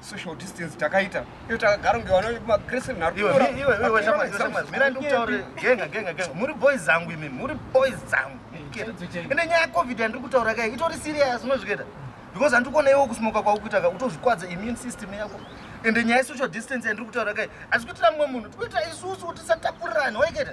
social distance takaita iyo takagara kunge vana vekuma christian nharumira ndikutaure genga genga genga muri boys zangu imi muri boys zangu ende nyaya yecovid yandiri kutaura kai itori serious unozvikuita because handiri kuona iwo kusmoka kwaukuita ka utozvikwadza immune system yako ende nyaya yesocial distance yandiri kutaura kai asi kuitira mumwe munhu tikuitira isusu tisatapurirani waiketa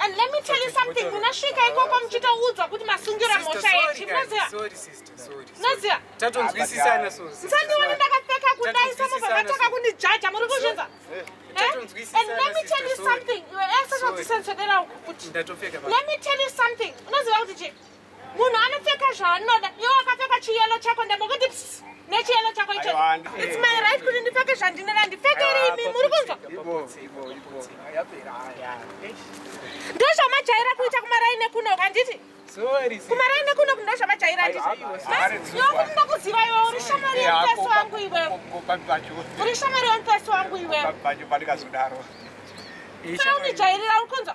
And let me tell you something, munasvika ikoko muchitoudzwa kuti masungira mhosha yechi, munoziva? Munoziva? Tatonzwisisana so. Musandione ndakapfeka kudai somo pamataka kundijaja, muri kuzvinza? Eh? And let me tell you something, iwe ese zvadzisensodera uku kuti. Let me tell you something, unoziva kuti chii? munhu anopfeka zvaanoda iwe wakapfeka chiyelo chako ndambokuti nechiyelo chako icho its my right kuti ndipfeke zvandinoda ndipfekere imi muri kunzwa ndozvamajaira kuita kumaraine kuno kanditi kumaraine kuno ndozvamajaira nditinokuda kuziva iwe uri shamari yomupesi wangu iwe uri shamari yomupesi wangu iwe saunijairira uri kunzwa